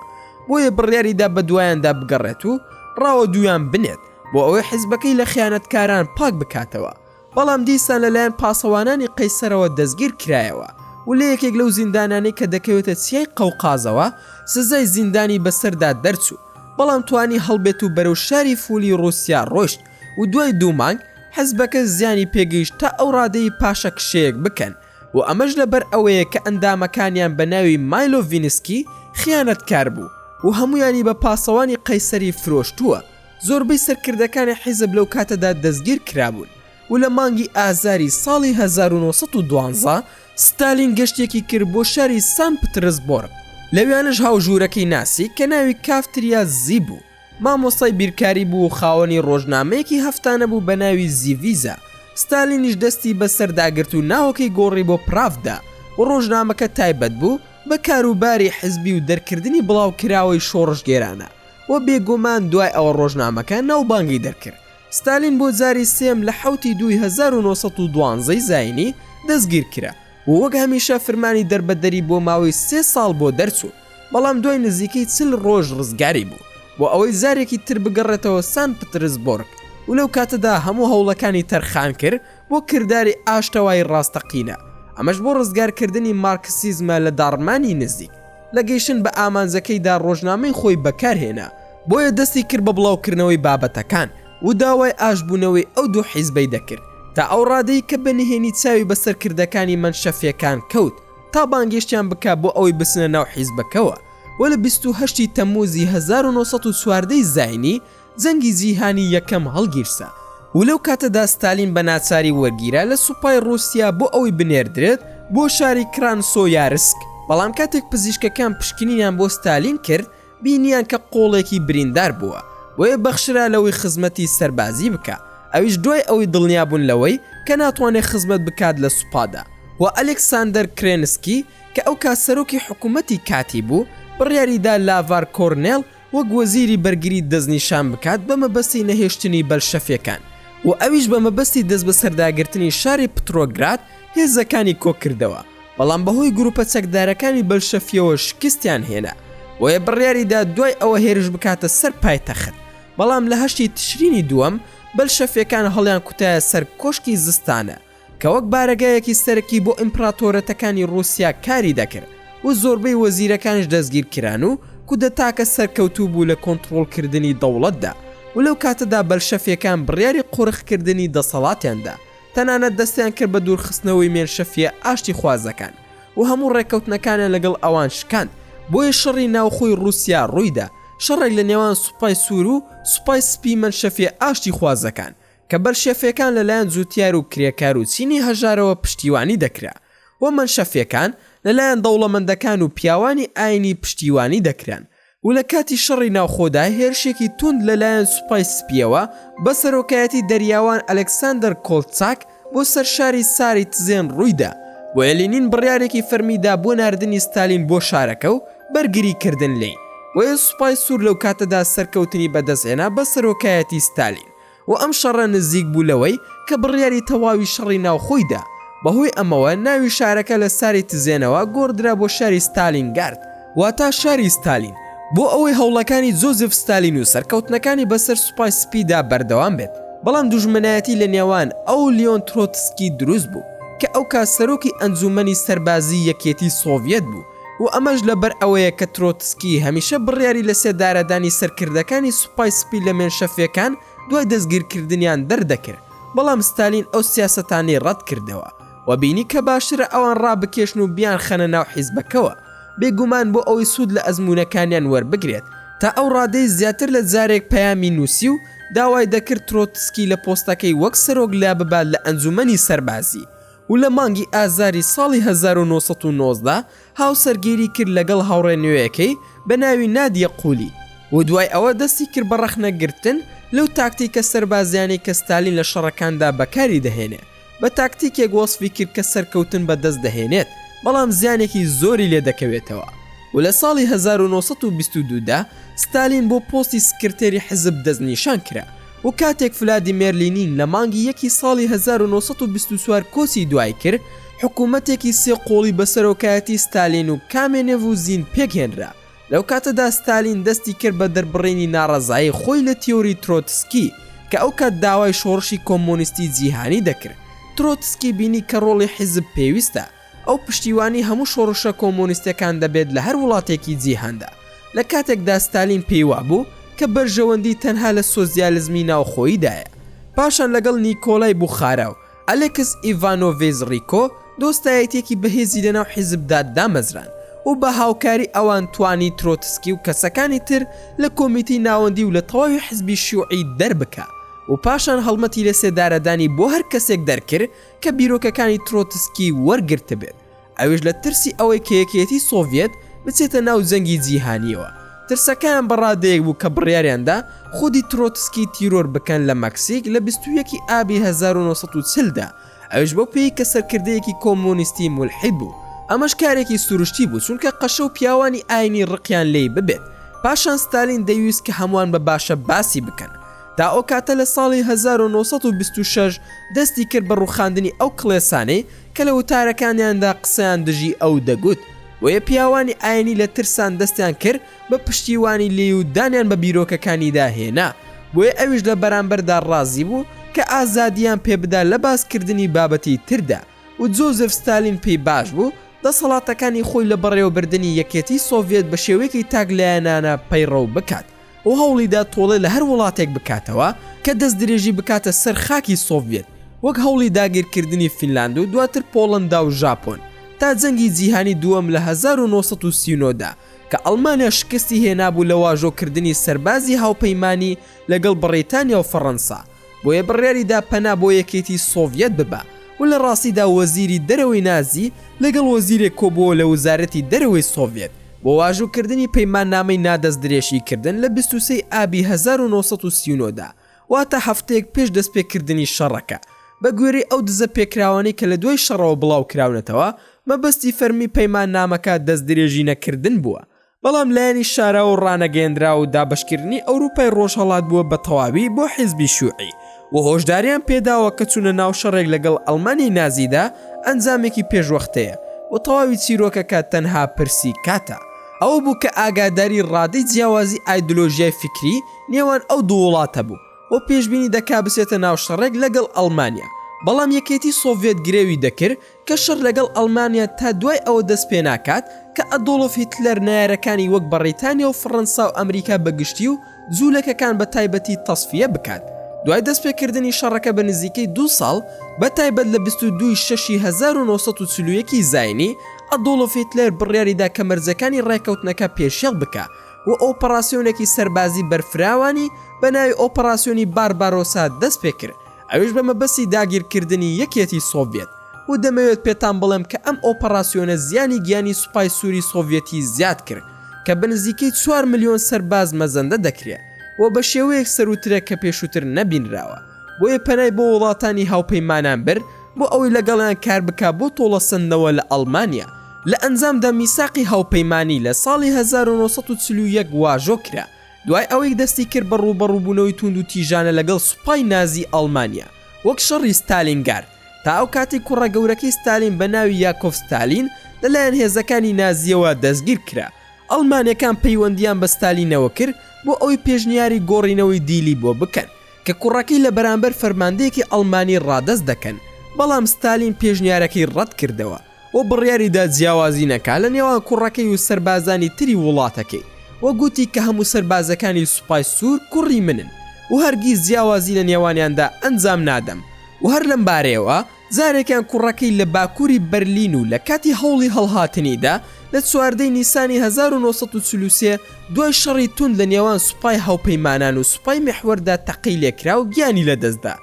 بۆیە بڕیاریدا بەدوایاندا بگەڕێت و ڕاوەدوویان بنێت. بۆ ئەوەی حیزبەکەی لە خیانەتکاران پاک بکاتەوە، بەڵام دیسان لەلایەن پاسەوانانی قەیسەرەوە دەستگیر کرایەوە و لە یەکێک لەو زیندانانەی کە دەکەوێتە چیای قەوقازەوە سزای زیندانی بەسەردا دەرچوو، بەڵام توانی هەڵبێت و بەرەو شاری فولی ڕووسیا ڕۆیشت و دوای دوو مانگ حیزبەکە زیانی پێگەیشت تا ئەو ڕادەی پاشەکشەیەک بکەن و ئەمەش لەبەر ئەوەیە کە ئەندامەکانیان بە ناوی مایلۆڤینسکی خیانەتکار بوو و هەموویانی بە پاسەوانی قەیسەری فرۆشتووە. زۆربەی سەرکردەکانی حیزب لەو کاتەدا دەستگیر کرابوون و لە مانگی ئازاری ساڵی هەزار و نۆ سەد و دوازدە ستالین گەشتێکی کرد بۆ شاری سان پترسبۆرگ لەوێانەش هاو ژوورەکەی ناسی کە ناوی کافتریا زی بوو مامۆستای بیرکاری بوو و خاوەنی ڕۆژنامەیەکی هەفتانە بوو بە ناوی زیڤیزا ستالینیش دەستی بە سەر داگرت و ناوەکەی گۆڕی بۆ پراڤدا و ڕۆژنامەکە تایبەت بوو بە کاروباری حیزبی و دەرکردنی بڵاوکراوەی شۆڕشگێرانە و بێگومان دوای ئەوە ڕۆژنامەکە ناوبانگی دەرکرد. ستالین بۆ جاری سێم لە حەوتی دووی هەزار و نۆ سەد و دوازدە ی زاینی دەستگیر کرا و وەک هەمیشە فرمانی دەربەدەری بۆ ماوەی سێ ساڵ بۆ دەرچوو، بەڵام دوای نزیکەی چل ڕۆژ ڕزگاری بوو بۆ ئەوەی جارێکی تر بگەڕێتەوە سان پترسبۆرگ و لەو کاتەدا هەموو هەوڵەکانی تەرخان کرد بۆ کرداری ئاشتەوایی ڕاستەقینە، ئەمەش بۆ ڕزگارکردنی مارکسیزمە لە داڕمانی نزیک. لە گەیشتن بە ئامانجەکەیدا ڕۆژنامەی خۆی بەکارهێنا، بۆیە دەستی کرد بە بڵاوکردنەوەی بابەتەکان و داوای ئاشتبوونەوەی ئەو دوو حیزبەی دەکرد، تا ئەو ڕادەی کە بە نهێنی چاوی بە سەرکردەکانی مەنشەفییەکان کەوت تا بانگێشتیان بکا بۆ ئەوەی بچنە ناو حیزبەکەوە و لە بیست و هەشت ی تەممووزی هەزار و نۆ سەد و چواردە ی زاینی جەنگی جیهانی یەکەم هەڵگیرسا و لەو کاتەدا ستالین بە ناچاری وەرگیرا لە سوپای ڕووسیا بۆ ئەوەی بنێردرێت بۆ شاری کرانسۆیارسک، بەڵام کاتێک پزیشکەکان پشکنینیان بۆ ستالین کرد بینیان کە قۆڵێکی بریندار بووە، بۆیە بەخشرا لەوەی خزمەتی سەربازی بکا، ئەویش دوای ئەوەی دڵنیا بوون لەوەی کە ناتوانێت خزمەت بکات لە سوپادا و ئەلێکساندەر کرێنسکی کە ئەو کات سەرۆکی حکوومەتی کاتی بوو بڕیاریدا لاڤار کۆرنێل وەک وەزیری بەرگری دەستنیشان بکات بە مەبەستی نەهێشتنی بەلشەفیەکان و ئەویش بە مەبەستی دەستبەسەرداگرتنی شاری پترۆگراد هێزەکانی کۆکردەوە بەڵام بەهۆی گروپە چەکدارەکانی بەلشەفیەوە شکستیان هێنا بۆیە بڕیاریدا دوای ئەوە هێرش بکاتە سەر پایتەخت بەڵام لە هەشتی تشرینی دووەم بەلشەفیەکان هەڵیانکوتایە سەر کۆشکی زستانە کە وەک بارەگایەکی سەرەکی بۆ ئیمپڕاتۆرەتەکانی ڕووسیا کاری دەکرد و زۆربەی وەزیرەکانیش دەستگیر کران و کودەتاکە سەرکەوتوو بوو لە کۆنتڕۆڵکردنی دەوڵەتدا و لەو کاتەدا بەلشەفیەکان بڕیاری قۆرخکردنی دەسەڵاتیان دا تەنانەت دەستیان کرد بە دوورخستنەوەی مێنشەفیە ئاشتیخوازەکان و هەموو ڕێککەوتنەکانیان لەگەڵ ئەوان شکاند بۆیە شەڕی ناوخۆی ڕووسیا ڕوویدا شەڕێک لە نێوان سوپای سوور و سوپای سپی مەنشەفیە ئاشتیخوازەکان کە بەلشەفیەکان لە لایەن جوتیار و کرێکار و چینی هەژارەوە پشتیوانی دەکرا و مەنشەفیەکان لە لایەن دەوڵەمەندەکان و پیاوانی ئاینی پشتیوانی دەکران و لە کاتی شەڕی ناوخۆدا هێرشێکی توند لە لایەن سوپای سپیەوە بە سەرۆکایەتی دەریاوان ئەلکسەندەر کۆلتساک بۆ سەر شاری ساریتزێن ڕوویدا بۆیە لینین بڕیارێکی فەرمی دا بۆ ناردنی ستالین بۆ شارەکە و بەرگری کردن لێی بۆیە سوپای سوور لەو کاتەدا سەرکەوتنی بە دەست هێنا بە سەرۆکایەتی ستالین و ئەم شەڕە نزیک بوو لەوەی کە بڕیاری تەواوی شەڕی ناوخۆی دا، بەهۆی ئەمەوە ناوی شارەکە لە ساری تزێنەوە گۆڕدرا بۆ شاری ستالینگارد، واتا شاری ستالین، بۆ ئەوەی هەوڵەکانی جۆزیف ستالین و سەرکەوتنەکانی بەسەر سوپای سپیدا بەردەوام بێت، بەڵام دوژمنایەتی لە نێوان ئەو و لیۆن ترۆتسکی دروست بوو کە ئەوکات سەرۆکی ئەنجوومەنی سەربازیی یەکێتی سۆڤیەت بوو، و ئەمەش لەبەر ئەوەیە کە ترۆتسکی هەمیشە بڕیاری لەسێدارەدانی سەرکردەکانی سوپای سپی لە مێنشەفیەکان دوای دەستگیرکردنیان دەردەکرد، بەڵام ستالین ئەو سیاسەتانەی ڕەتکردەوە و بینی کە باشترە ئەوان ڕابکێشن و بیانخەنە ناو حیزبەکەوە، بێگومان بۆ ئەوەی سوود لە ئەزموونەکانیان وەربگرێت، تا ئەو ڕادەی زیاتر لە جارێک پەیامی نووسی و داوای دەکرد ترۆتسکی لە پۆستەکەی وەک سەرۆک لاببات لە ئەنجوومەنی سەربازی. و لە مانگی ئازاری ساڵی هەزار و نۆ سەد و نۆزدە هاوسەرگیری کرد لەگەڵ هاوڕێ نوێیەکەی بە ناوی نادیە قولی و دوای ئەوە دەستی کرد بە ڕەخنەگرتن لەو تاکتیکە سەربازیانەی کە ستالین لە شەڕەکاندا بەکاری دەهێنێ بە تاکتیکێک وەسفی کرد کە سەرکەوتن بە دەست دەهێنێت بەڵام زیانێکی زۆری لێ دەکەوێتەوە و لە ساڵی هەزار و نۆ سەد و بیست و دوو دا ستالین بۆ پۆستی سکرتێری حزب دەستنیشان کرا و کاتێک فلادیمێر لینین لە مانگی یەکی ساڵی هەزار و نۆ سەد و بیست و چوار کۆچی دوای کرد، حکوومەتێکی سێ قۆڵی بە سەرۆکایەتی ستالین و کامێنێڤ و زین پێکهێنرا. لەو کاتەدا ستالین دەستی کرد بە دەربڕینی ناڕەزایی خۆی لە تیۆری ترۆتسکی، کە ئەو کات داوای شۆڕشی کۆمۆنیستی جیهانی دەکرد. ترۆتسکی بینی کە ڕۆڵی حیزب پێویستە، ئەو پشتیوانی هەموو شۆڕشە کۆمۆنیستەکان دەبێت لە هەر وڵاتێکی جیهاندا، لە کاتێکدا ستالین پێی وابوو کە بەرژەوەندی تەنها لە سۆسیالزمی ناوخۆییدایە. پاشان لەگەڵ نیکۆلای بوخارا و ئەلێکس ئیڤانۆڤیز ڕیکۆ دۆستایەتییەکی بەهێزی لەناو حیزبدا دامەزراند و بە هاوکاری ئەوان توانی ترۆتسکی و کەسەکانی تر لە کۆمیتەی ناوەندی و لە تەواوی حزبی شیوعی دەربکا و پاشان هەڵمەتی لەسێدارەدانی بۆ هەر کەسێک دەرکرد کە بیرۆکەکانی ترۆتسکی وەرگرتبێت، ئەویش لە ترسی ئەوەی کە یەکێتی سۆڤیەت بچێتە ناو جەنگی جیهانیەوە، ترسەکەیان بە ڕادەیەک بوو کە بڕیاریان دا خودی ترۆتسکی تیرۆر بکەن لە مەکسیک لە بیست و یەک ی ئابی هەزار و نۆ سەد و چل دا، ئەویش بەو پێیی کە سەرکردەیەکی کۆمۆنیستی مولحید بوو. ئەمەش کارێکی سروشتی بوو چونکە قەشە و پیاوانی ئاینی ڕقیان لێی ببێت، پاشان ستالین دەیویست کە هەموان بە باشە باسی بکەن، تا ئەو کاتە لە ساڵی هەزار و نۆ سەد و بیست و شەش دەستی کرد بە ڕووخاندنی ئەو کڵێسانەی کە لە وتارەکانیاندا قسەیان دژی ئەو دەگوت، بۆیە پیاوانی ئاینی لە ترسان دەستیان کرد بە پشتیوانی لێی و دانیان بە بیرۆکەکانیدا هێنا، بۆیە ئەویش لە بەرامبەردا ڕازی بوو کە ئازادییان پێ بدا لە باسکردنی بابەتی تردا و جۆزێف ستالین پێی باش بوو دەسەڵاتەکانی خۆی لە بەڕێوەبردنی یەکێتی سۆڤیەت بە شێوەیەکی تاکلایەنانە پەیڕەو بکات و هەوڵیدا تۆڵەی لە هەر وڵاتێک بکاتەوە کە دەستدرێژی بکاتە سەر خاکی سۆڤیەت، وەک هەوڵی داگیرکردنی فینلاند و دواتر پۆڵەندا و ژاپۆن، تا جەنگی جیهانی دووەم لە هەزار و نۆ سەد و سی و نۆ دا، کە ئەڵمانیا شکستی هێنابوو لە واژۆکردنی سەربازی هاوپەیمانی لەگەڵ بڕیتانیا و فەڕەنسا. بۆیە بڕیاری دا پەنا بۆ یەکێتی سۆڤیەت ببا و لە ڕاستیدا وەزیری دەرەوەی نازی لەگەڵ وەزیرێک کۆبووەوە لە وزارەتی دەرەوەی سۆڤیەت بۆ واژووکردنی پەیماننامەی نادەستدرێژیکردن لە بیست و سێی ئابی هەزار و نۆ سەد و سی و نۆ دا، واتە هەفتەیەک پێش دەستپێکردنی شەڕەکە. بە گوێرەی ئەو دزە پێکراوانەی کە لە دوای شەڕەوە بڵاوکراونەتەوە، مەبەستی فەرمی پەیماننامەکە دەستدرێژینەکردن بووە بەڵام لایەنی شاراو و ڕانەگەیەندراو و دابەشکردنی ئەوروپای ڕۆژهەڵات بووە بە تەواوی بۆ حیزبی شیوعی و هۆشداریان پێداوە کە چوونە ناو شەڕێک لەگەڵ ئەڵمانیای نازیدا ئەنجامێکی پێشوەختەیە و تەواوی چیرۆکەکە تەنها پرسی کاتە. ئەوە بوو کە ئاگاداری ڕادەی جیاوازی ئایدۆلۆژیای فیکری نێوان ئەو دوو وڵاتە بوو و پێشبینی دەکا بچێتە ناو شەڕێک لەگەڵ ئەڵمانیا بەڵام یەکێتی سۆڤیەت گرێوی دەکرد کە شەڕ لەگەڵ ئەڵمانیا تا دوای ئەوە دەست پێناکات کە ئەدۆڵف هیتلەر نەیارەکانی وەک بەڕیتانیا و فڕەنسا و ئەمریکا بە گشتی و جوولەکەکان بە تایبەتی تەسفیە بکات دوای دەست پێکردنی شەڕەکە بە نزیکەی دوو ساڵ بە تایبەت لە بیست و دوو ی شەش ی هەزار و نۆ سەد و چل و یەک ی زاینی ئەدۆڵف هیتلەر بڕیاری دا کە مەرجەکانی ڕێکەوتنەکە پێشێڵ بکا و ئۆپەڕاسیۆنێکی سەربازی بەرفراوانی بە ناوی ئۆپەڕاسیۆنی باربارۆسا دەست پێکرد ئەویش بە مەبەستی داگیرکردنی یەکێتی سۆڤیەت، و دەمەوێت پێتان بڵێم کە ئەم ئۆپەڕاسیۆنە زیانی گیانی سوپای سووری سۆڤیەتی زیاد کرد کە بە نزیکەی چوار ملیۆن سەرباز مەزەندە دەکرێ و بە شێوەیەک سەرووترە کە پێشووتر نەبینراوە، بۆیە پەنای بۆ وڵاتانی هاوپەیمانان برد بۆ ئەوەی لەگەڵیان کار بکا بۆ تۆڵەسەندنەوە لە ئەڵمانیا. لە ئەنجامدا میساقی هاوپەیمانی لە ساڵی هەزار و نۆ سەد و چل و یەک واژۆ کرا. دوای ئەوەی دەستی کرد بە ڕووبەڕووبوونەوەی تووند و تیژانە لەگەڵ سوپای نازی ئەڵمانیا وەک شەڕی ستالینگارد، تا ئەو کاتەی کوڕە گەورەکەی ستالین بە ناوی یاکۆڤ ستالین لە لایەن هێزەکانی نازییەوە دەستگیر کرا. ئەڵمانەکان پەیوەندییان بە ستالینەوە کرد بۆ ئەوەی پێشنیاری گۆڕینەوەی دیلی بۆ بکەن کە کوڕەکەی لە بەرامبەر فەرماندەیەکی ئەڵمانی ڕادەست دەکەن، بەڵام ستالین پێشنیارەکەی ڕەت کردەوە. و بڕیاریدا جیاوازی نەکات لە نێوان کوڕەکەی و سەربازانی تری وڵاتەکەی و گوتی کە هەموو سەربازەکانی سوپای سوور کوڕی منن و هەرگیز جیاوازی لە نێوانیاندا ئەنجام نادەم و هەر لەم بارەیەوە جارێکیان کوڕەکەی لە باکووری بەرلین و لە کاتی هەوڵی هەڵهاتنیدا لە چواردە ی نیسانی هەزار و نۆ سەد و چل و سێ دوای شەڕی توند لە نێوان سوپای هاوپەیمانان و سوپای میحوەردا تەقەی لێکرا و گیانی لەدەستدا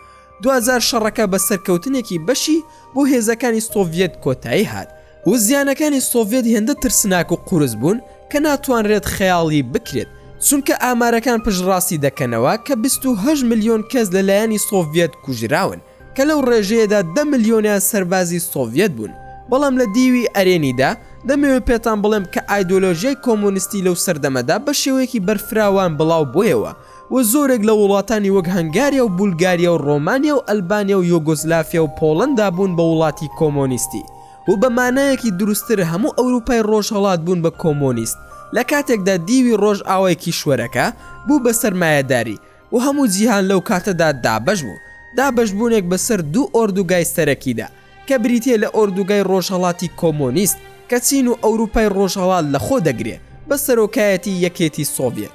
دواجار شەڕەکە بە سەرکەوتنێکی بەشی بۆ هێزەکانی سۆڤیەت کۆتایی هات و زیانەکانی سۆڤیەت هێندە ترسناک و قورس بوون کە ناتوانرێت خەیاڵی بکرێت، چونکە ئامارەکان پشتڕاستی دەکەنەوە کە بیست و هەشت ملیۆن کەس لەلایەنی سۆڤیەت کوژراون، کە لەو ڕێژەیەدا دە ملیۆنیان سەربازی سۆڤیەت بوون، بەڵام لە دیوی ئەرێنیدا دەمەوێت پێتان بڵێم کە ئایدۆلۆژیای کۆمۆنیستی لەو سەردەمەدا بە شێوەیەکی بەرفراوان بڵاوبوویەوە، و زۆرێک لە وڵاتانی وەک هەنگاریا و بولگاریا و ڕۆمانیا و ئەلبانیا و یۆگۆسلافیا و پۆڵەندا بوون بە وڵاتی کۆمۆنیستی و بە مانایەکی دروستتر هەموو ئەوروپای ڕۆژهەڵات بوون بە کۆمۆنیست لە کاتێکدا دیوی ڕۆژئاوای کیشوەرەکە بوو بە سەرمایەداری و هەموو جیهان لەو کاتەدا دابەش بوو دابەشبوونێک بە سەر دوو ئۆردوگای سەرەکیدا کە بریتیە لە ئۆردوگای ڕۆژهەڵاتی کۆمۆنیست کە چین و ئەوروپای ڕۆژهەڵات لە خۆ دەگرێ بە سەرۆکایەتی یەکێتی سۆڤیەت.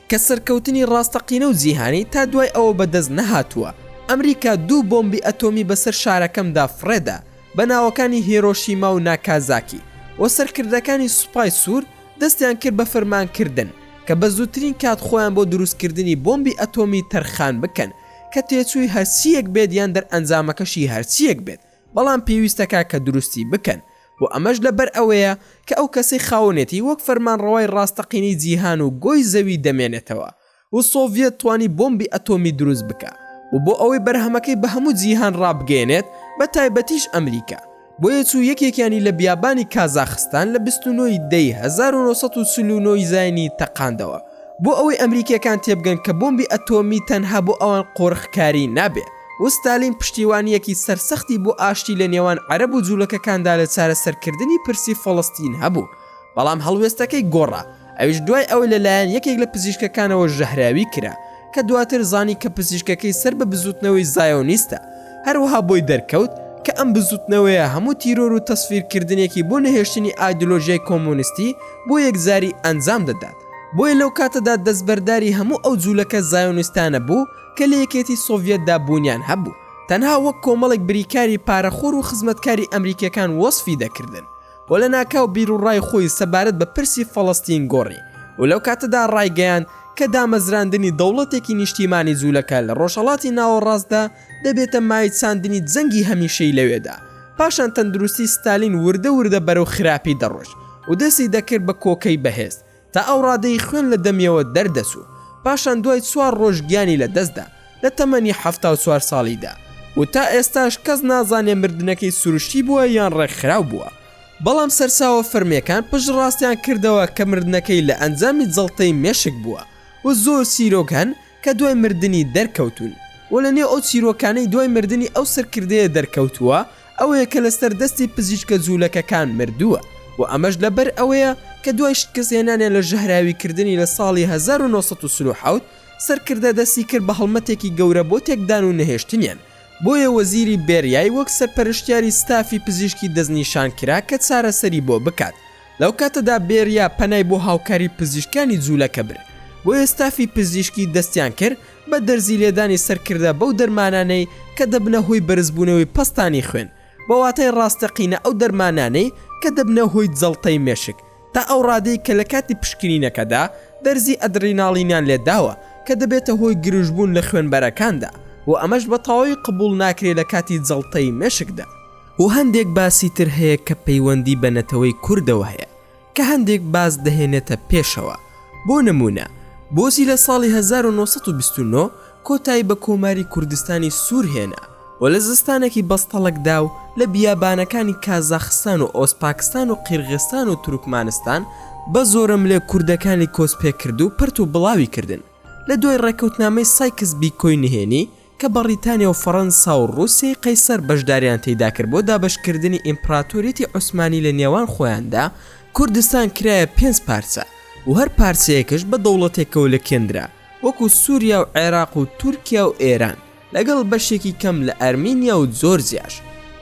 کە سەرکەوتنی ڕاستەقینە و جیهانی تا دوای ئەوە بەدەست نەهاتووە، ئەمریکا دوو بۆمبی ئەتۆمی بەسەر شارەکەمدا فڕێدا، بە ناوەکانی هێرۆشیما و ناکازاکی، و سەرکردەکانی سوپای سوور دەستیان کرد بە فرمانکردن کە بە زووترین کات خۆیان بۆ دروستکردنی بۆمبی ئەتۆمی تەرخان بکەن کە تێچووی هەرچییەک بێت یان دەرئەنجامەکەشی هەرچییەک بێت، بەڵام پێویستەکە کە دروستی بکەن و ئەمەش لەبەر ئەوەیە کە ئەو کەسەی خاوەنێتی وەک فەرمانڕەوای ڕاستەقینەی جیهان و گۆی زەوی دەمێنێتەوە و سۆڤیەت توانی بۆمبی ئەتۆمی دروست بکا و بۆ ئەوەی بەرهەمەکەی بە هەموو جیهان ڕابگەیەنێت بە تایبەتیش ئەمریکا بۆیە چوو یەکێکیانی لە بیابانی کازاخستان لە بیست و نۆ ی دەی هەزار و نۆ سەد و چل و نۆ ی زاینی تەقاندەوە بۆ ئەوەی ئەمریکیەکان تێبگەن کە بۆمبی ئەتۆمی تەنها بۆ ئەوان قۆرخکاری نابێ. و ستالین پشتیوانییەکی سەرسەختی بۆ ئاشتی لە نێوان عەرەب و جوولەکەکاندا لە چارەسەرکردنی پرسی فەڵەستین هەبوو، بەڵام هەڵوێستەکەی گۆڕا، ئەویش دوای ئەوەی لە لایەن یەکێک لە پزیشکەکانەوە ژەهراوی کرا، کە دواتر زانی کە پزیشکەکەی سەر بە بزووتنەوەی زایۆنیستە، هەروەها بۆی دەرکەوت کە ئەم بزووتنەوەیە هەموو تیرۆر و تەسفیرکردنێکی بۆ نەهێشتنی ئایدۆلۆژیای کۆمۆنیستی بۆ یەکجاری ئەنجام دەدات، بۆیە لەو کاتەدا دەستبەرداری هەموو ئەو جوولەکە زایۆنیستانە بوو، کە لە یەکێتی سۆڤیەتدا بوونیان هەبوو، تەنها وەک کۆمەڵێک بریکاری پارەخۆر و خزمەتکاری ئەمریکییەکان وەسفی دەکردن و لەناکاو بیروڕای خۆی سەبارەت بە پرسی فەڵەستین گۆڕی و لەو کاتەدا ڕایگەیاند کە دامەزراندنی دەوڵەتێکی نیشتیمانی جوولەکە لە ڕۆژهەڵاتی ناوەڕاستدا دەبێتە مایەی چاندنی جەنگی هەمیشەی لەوێدا. پاشان تەندروستی ستالین وردە وردە بەرەو خراپی دەڕۆیشت و دەستی دەکرد بە کۆکەی بەهێز، تا ئەو ڕادەی خوێن لە دەمیەوە دەردەچوو، پاشان دوای چوار ڕۆژ گیانی لە دەستدا لە تەمەنی حەفتا و چوار ساڵیدا و تا ئێستاش کەس نازانێ مردنەکەی سروشتی بووە یان ڕێکخراو بووە، بەڵام سەرچاوە فەرمییەکان پشتڕاستیان کردەوە کە مردنەکەی لە ئەنجامی جەڵتەی مێشک بووە و زۆر چیرۆک هەن کە دوای مردنی دەرکەوتوون و لە نێو ئەو چیرۆکانەی دوای مردنی ئەو سەرکردەیە دەرکەوتووە ئەوەیە کە لەسەر دەستی پزیشکە جوولەکەکان مردووە و ئەمەش لەبەر ئەوەیە کە دوای شکستهێنانیان لە ژەهراویکردنی لە ساڵی هەزار و نۆ سەد و چل و حەوت سەرکردە دەستی کرد بە هەڵمەتێکی گەورە بۆ تێکدان و نەهێشتنیان بۆیە وەزیری بێریای وەک سەرپەرشتیاری ستافی پزیشکی دەستنیشانکرا کە چارەسەری بۆ بکات لەو کاتەدا بێریا پەنای بۆ هاوکاری پزیشکانی جوولەکە برد، بۆیە ستافی پزیشکی دەستیان کرد بە دەرزی لێدانی سەرکردە بەو دەرمانانەی کە دەبنە هۆی بەرزبوونەوەی پەستانی خوێن، بە واتای ڕاستەقینە ئەو دەرمانانەی کە دەبنە هۆی جەڵتەی مێشک، تا ئەو ڕادەی کە لە کاتی پشکنینەکەدا دەرزی ئەدریناڵینیان لێ داوە کە دەبێتە هۆی گرژبوون لە خوێنبەرەکاندا و ئەمەش بە تەواوی قبوڵ ناکرێت لە کاتی جەڵتەی مێشکدا. و هەندێک باسی تر هەیە کە پەیوەندی بە نەتەوەی کوردەوە هەیە کە هەندێک باس دەهێنێتە پێشەوە بۆ نموونە بۆچی لە ساڵی هەزار و نۆ سەد و بیست و نۆ کۆتایی بە کۆماری کوردستانی سوور هێنا و لە زستانێکی بەستەڵەکدا و لە بیابانەکانی کازاخستان و ئۆزپاکستان و قیرغستان و تورکمانستان بە زۆرەملێ کوردەکانی کۆچ پێکرد و پەرت و بڵاوی کردن لە دوای ڕێکەوتنامەی سایکس بیکۆی نهێنی کە بەڕیتانیا و فەڕەنسا و ڕووسیەی قەیسەر بەشداریان تێیدا کرد بۆ دابەشکردنی ئیمپڕاتۆریەتی عوسمانی لە نێوان خۆیاندا، کوردستان کرایە پێنج پارچە و هەر پارچەیەکش بە دەوڵەتێکەوە لکێندرا وەکو سوریا و عێراق و تورکیا و ئێران لەگەڵ بەشێکی کەم لە ئەرمینیا و جۆرجیاش.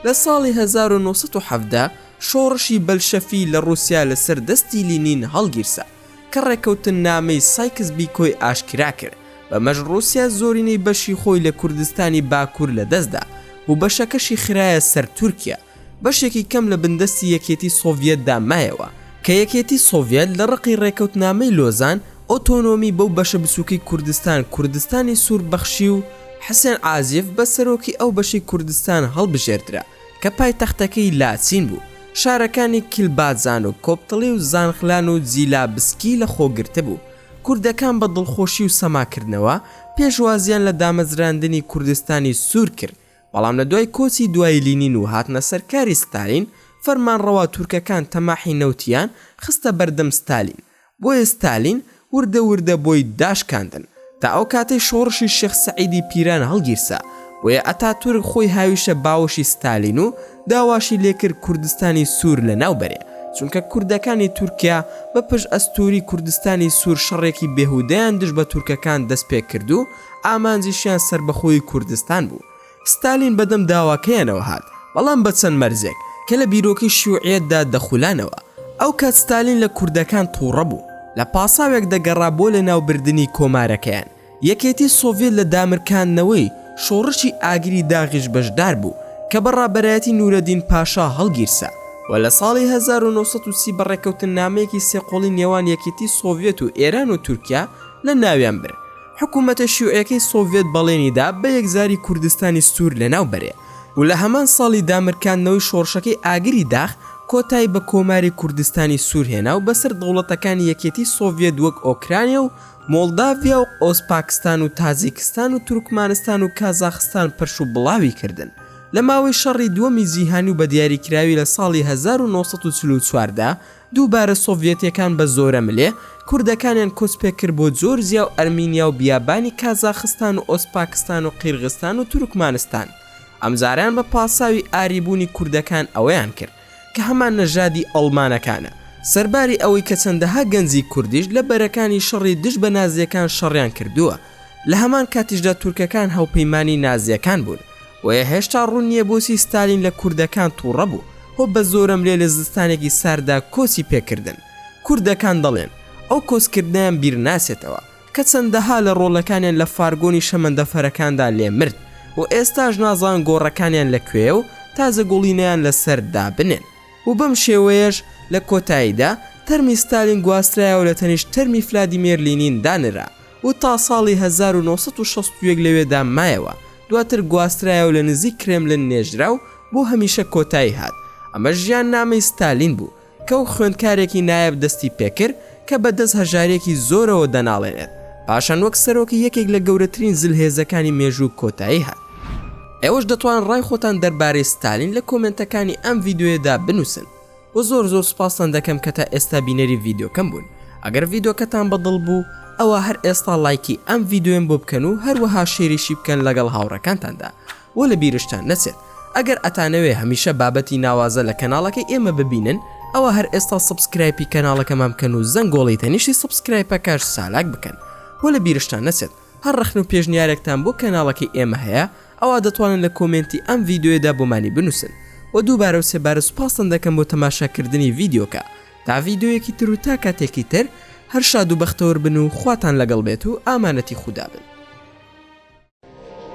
لە ساڵی هەزار و نۆ سەد و حەڤدە شۆڕشی بەلشەفی لە ڕووسیا لەسەر دەستی لینین هەڵگیرسا. کە ڕێککەوتننامەی سایکس بیکۆی ئاشکرا کرد، بەمەش ڕووسیا زۆرینەی بەشی خۆی لە کوردستانی باکوور لەدەست دا و بەشەکەشی خرایە سەر تورکیا، بەشێکی کەم لە بندەستی یەکێتی سۆڤیەتدا مایەوە، کە یەکێتی سۆڤیەت لە ڕقی ڕێککەوتنامەی لۆزان ئۆتۆنۆمی بەو بەشە بچووکەی کوردستان کوردستانی سوور بەخشی و حسێن عازیف بە سەرۆکی ئەو بەشەی کوردستان هەڵبژێردرا. کە پایتەختەکەی لاچین بوو، شارەکانی کیلباجان و کۆپتڵی و زانخلان و جیلابسکی لەخۆگرتبوو. کوردەکان بە دڵخۆشی و سەماکردنەوە پێشوازییان لە دامەزراندنی کوردستانی سوور کرد، بەڵام لە دوای کۆچی دوایی لینین و هاتنە سەر کاری ستالین، فەرمانڕەوا تورکەکان تەماحی نەوتیان خستە بەردەم ستالین بۆیە ستالین وردە وردە بۆی داشکاندن تا ئەو کاتەی شۆڕشی شێخ سەعیدی پیران هەڵگیرسا، بۆیە ئەتاتورک خۆی هاویشە باوەشی ستالین و داواشی لێکرد کوردستانی سوور لەناو بەرێ، چونکە کوردەکانی تورکیا بە پشت ئەستووری کوردستانی سوور شەڕێکی بێهودەیان دژ بە تورکەکان دەست پێ کردو ئامانجیشیان سەربەخۆیی کوردستان بوو، ستالین بەدەم داواکەیانەوە هات، بەڵام بە چەند مەرجێک، کە لە بیرۆکەی شیوعیەتدا دەخولانەوە. ئەو کات ستالین لە کوردەکان توڕە بوو، لە پاساوێک دەگەڕا بۆ لەناوبردنی کۆمارەکەیان. یەکێتی سۆڤیەت لە دامرکاندنەوەی شۆڕشی ئاگری داغیش بەشدار بوو، کە بە ڕابەرایەتی نورەدین پاشا هەڵگیرسا و لە ساڵی هەزار و نۆ سەد و سی بە ڕێککەوتننامەیەکی سێقۆڵی نێوان یەکێتی سۆڤیەت و ئێران و تورکیا لە ناویان برد. حکوومەتە شیوعیەکەی سۆڤێت بەڵێنی دا بە یەکجاری کوردستانی سوور لەناو بەرێ و لە هەمان ساڵی دامرکاندنەوەی شۆڕشەکەی ئاگری داخ کۆتایی بە کۆماری کوردستانی سوور هێنا و بەسەر دەوڵەتەکانی یەکێتی سۆڤێت وەک ئۆکرانیا و مۆڵداڤیا و ئۆزپاکستان و تاجیکستان و تورکمانستان و کازاخستان پرش و بڵاوی کردن لە ماوەی شەڕی دووەمی جیهانی و بە دیاریکراوی لە ساڵی هەزار و نۆ سەد و چل و چوار دا دووبارە سۆڤیەتیەکان بە زۆرەملێ کوردەکانیان کۆچ پێ کرد بۆ جۆرجیا و ئەرمینیا و بیابانی کازاخستان و ئۆزپاکستان و قیرغستان و تورکمانستان ئەمجارەیان بە پاساوی ئاری بوونی کوردەکان ئەوەیان کرد کە هەمان نەژادی ئەڵمانەکانە سەرباری ئەوەی کە چەندەها گەنجی کوردیش لە بەرەکانی شەڕی دژ بە نازیەکان شەڕیان کردووە. لە هەمان کاتیشدا تورکەکان هاوپەیمانی نازیەکان بوون، بۆیە هێشتا ڕوون نیە بۆچی ستالین لە کوردەکان توڕە بوو و بە زۆرەملێ لە زستانێکی سارددا کۆچی پێکردن. کوردەکان دەڵێن، ئەو کۆچکردنەیان بیرناچێتەوە، کە چەندەها لە ڕۆڵەکانیان لە فارگۆنی شەمەندەفەرەکاندا لێ مرد و ئێستاش نازان گۆڕەکانیان لە کوێیە و تازە گوڵینەیان لە سەر دابنێن. و بەم شێوەیەش لە کۆتاییدا تەرمی ستالین گواسترایەوە لە تەنیشت تەرمی فلادیمێر لینین دانرا. و تا ساڵی هەزار و نۆ سەد و شەست و یەک لەوێدا مایەوە، دواتر گواسترایەوە لە نزیک کرێملن نێژرا و بۆ هەمیشە کۆتایی هات. ئەمە ژیاننامەی ستالین بوو، کە و خوێندکارێکی نایاب دەستی پێکرد، کە بە دەست هەژارییەکی زۆرەوە دەناڵێنێت، پاشان وەک سەرۆکی یەکێک لە گەورەترین زلهێزەکانی مێژوو کۆتایی هات. ئێوەش دەتوان ڕای خۆتان دەربارەی ستالین لە کۆمێنتەکانی ئەم ڤیدیۆیەدا بنووسن. وە زۆر زۆر سوپاستان دەکەم کە تا ئێستا بینەری ڤیدۆکەم بوون ئەگەر ڤیدۆکەتان بە دڵ بوو ئەوا هەر ئێستا لایکی ئەم ڤیدۆیەم بۆ بکەن و هەروەها شێریشی بکەن لەگەڵ هاوڕەکانتاندا وە لە بیرشتان نەچێت ئەگەر ئەتانەوێ هەمیشە بابەتی ناوازە لە کەناڵەکەی ئێمە ببینن ئەوا هەر ئێستا سبسکرایپی کەناڵەکەمان بکەن و زەنگۆڵی تەنیشتی سبسکرایپەکەش چالاک بکەن وە لە بیرشتان نەچێت هەر ڕەخنە و پێشنیارێکتان بۆ کەناڵەکەی ئێمە هەیە ئەوا دەتوانن لە کۆمێنتی ئەم ڤیدیۆیەدا بۆمانی بنووسن وە دووبارە و سێبارە سوپاستان دەکەم بۆ تەماشا کردنی ڤیدیۆکە تا ڤیدیۆیەکی تر و تا کاتێکی تر هەر شاد و بەختەوەر بن و خواتان لەگەڵ بێت و ئامانەتی خودا بن.